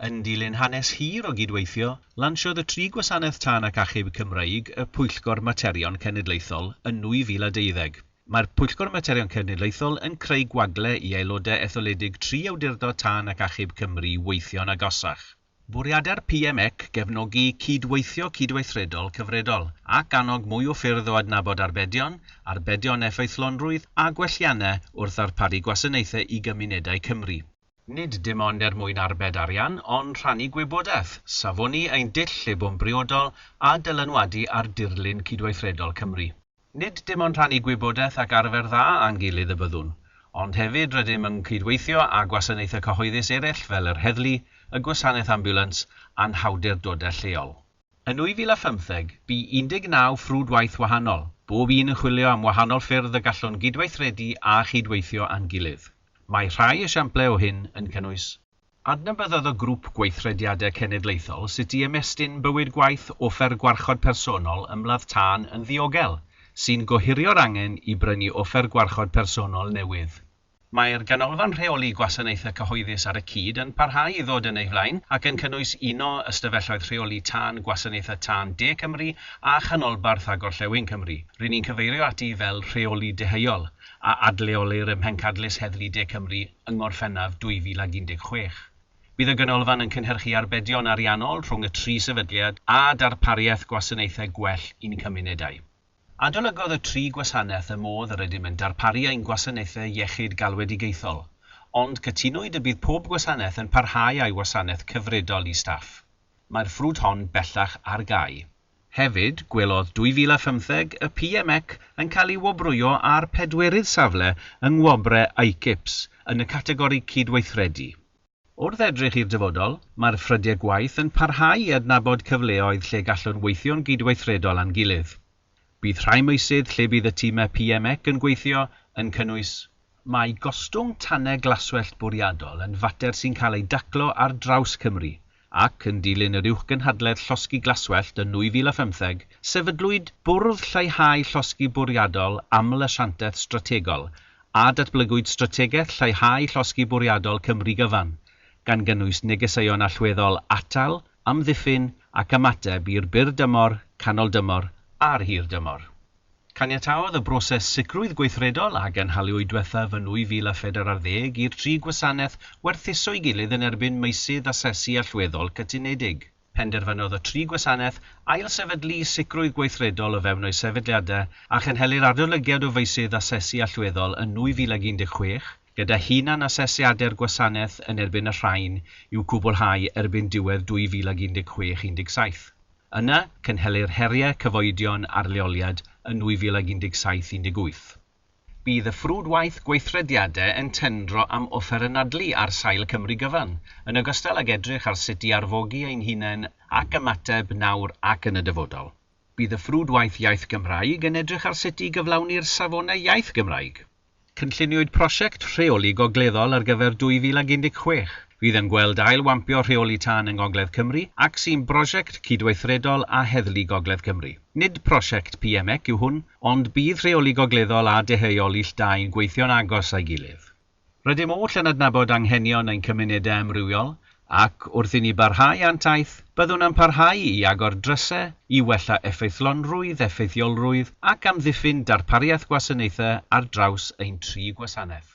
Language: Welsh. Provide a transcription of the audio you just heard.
Yn dilyn hanes hir o gydweithio, lansiodd y tri gwasanaeth tân ac achub Cymreig y Pwyllgor Materion Cenedlaethol yn 2012. Mae'r Pwyllgor Materion Cenedlaethol yn creu gwagle i aelodau etholedig tri awdurdod tân ac achub Cymru weithio'n agosach. Bwriadeir PMEC gefnogi cyd-weithio cydweithredol cyfredol, ac annog mwy o ffyrdd o adnabod arbedion, arbedion effeithlonrwydd a gwelliannau wrth ddarparu gwasanaethau i gymunedau Cymru. Nid dim ond er mwyn arbed arian, ond rhannu gwybodaeth, safoni ein dull lle bo'n briodol, a dylanwadu ar dirlun cydweithredol Cymru. Nid dim ond rhannu gwybodaeth ac arfer dda â'n gilydd y byddwn, ond hefyd rydym yn cydweithio â gwasanaethau cyhoeddus eraill fel yr heddlu, y gwasanaeth ambiwlans a'n hawdurdodau lleol. Yn 2015, bu 19 ffrwd waith wahanol, bob un yn chwilio am wahanol ffyrdd y gallwn gydweithredu a chydweithio â'n gilydd. Mae rhai esiamplau o hyn yn cynnwys. Adnabyddodd y Grŵp Gweithrediadau Cenedlaethol sut i ymestyn bywyd gwaith offer gwarchod personol ymladd tân yn ddiogel, sy'n gohirio'r angen i brynu offer gwarchod personol newydd. Mae'r Ganolfan Rheoli Gwasanaethau Cyhoeddus ar y cyd yn parhau i ddod yn ei flaen ac yn cynnwys uno Ystafelloedd Rheoli Tân Gwasanaethau Tân De Cymru a Chanolbarth a Gorllewin Cymru, rŷn ni'n cyfeirio ati fel Rheoli Deheuol, a adleolir ym Mhencadlys Heddlu De Cymru, yng Ngorffennaf 2016. Bydd y Ganolfan yn cynhyrchu arbedion ariannol rhwng y tri sefydliad a darpariaeth gwasanaethau gwell i'n cymunedau. Adolygodd y tri gwasanaeth y modd yr ydym yn darparu ein gwasanaethau iechyd galwedigaethol, ond cytunwyd y bydd pob gwasanaeth yn parhau â'i wasanaeth cyfredol i staff. Mae'r ffrwd hon bellach ar gau. Hefyd, gwelodd 2015 y PMEC yn cael ei wobrwyo â'r pedwerydd safle yng Ngwobre ICIPS yn y categori Cydweithredu. Wrth edrych i'r dyfodol, mae'r ffrydiau gwaith yn parhau i adnabod cyfleoedd lle gallwn weithio'n gydweithredol â'n gilydd. Bydd rhai meysydd lle bydd y timau PMEC yn gweithio yn cynnwys. Mae gostwng tanau glaswellt bwriadol yn fater sy'n cael ei daclo ar draws Cymru, ac, yn dilyn yr Uwchgynhadledd Llosgi Glaswellt yn 2015, sefydlwyd Bwrdd Lleihau Llosgi Bwriadol Aml-asiantaeth Strategol a datblygwyd Strategaeth Lleihau Llosgi Bwriadol Cymru Gyfan, gan gynnwys negeseuon allweddol atal, amddiffyn ac ymateb i'r byr dymor, canol dymor a'r hir dymor. Caniataodd y broses sicrwydd gweithredol a gynhaliwyd diwethaf yn 2004 ar ddeg i'r tri gwasanaeth werthuso'i gilydd yn erbyn meysydd asesu allweddol cytunedig. Penderfynodd y tri gwasanaeth ailsefydlu sicrwydd gweithredol o fewn eu sefydliadau a chynhelir adolygiad o feysydd asesu allweddol yn 2016, gyda hunan-asesiadau'r gwasanaeth yn erbyn y rhain i'w cwblhau erbyn diwedd 2016 17. Yna, cynhelir heriau cyfoedion ar leoliad yn 2017 18. Bydd y ffrwd waith gweithrediadau yn tendro am offer anadlu ar sail Cymru gyfan, yn ogystal ag edrych ar sut i arfogi ein hunain ac ymateb nawr ac yn y dyfodol. Bydd y ffrwd waith iaith Gymraeg yn edrych ar sut i gyflawni'r safonau iaith Gymraeg. Cynlluniwyd prosiect rheoli gogleddol ar gyfer 2016, fydd yn gweld ail-wampio rheoli tân yng Ngogledd Cymru ac sy'n brosiect cydweithredol â Heddlu Gogledd Cymru. Nid prosiect PMEC yw hwn, ond bydd rheoli gogleddol a deheuol ill dâi'n gweithio'n agos â'i gilydd. Rydym oll yn adnabod anghenion ein cymunedau amrywiol, ac wrth i ni barhau â'n taith, byddwn yn parhau i agor drysau i wella effeithlonrwydd, effeithiolrwydd ac amddiffyn darpariaeth gwasanaethau ar draws ein tri gwasanaeth.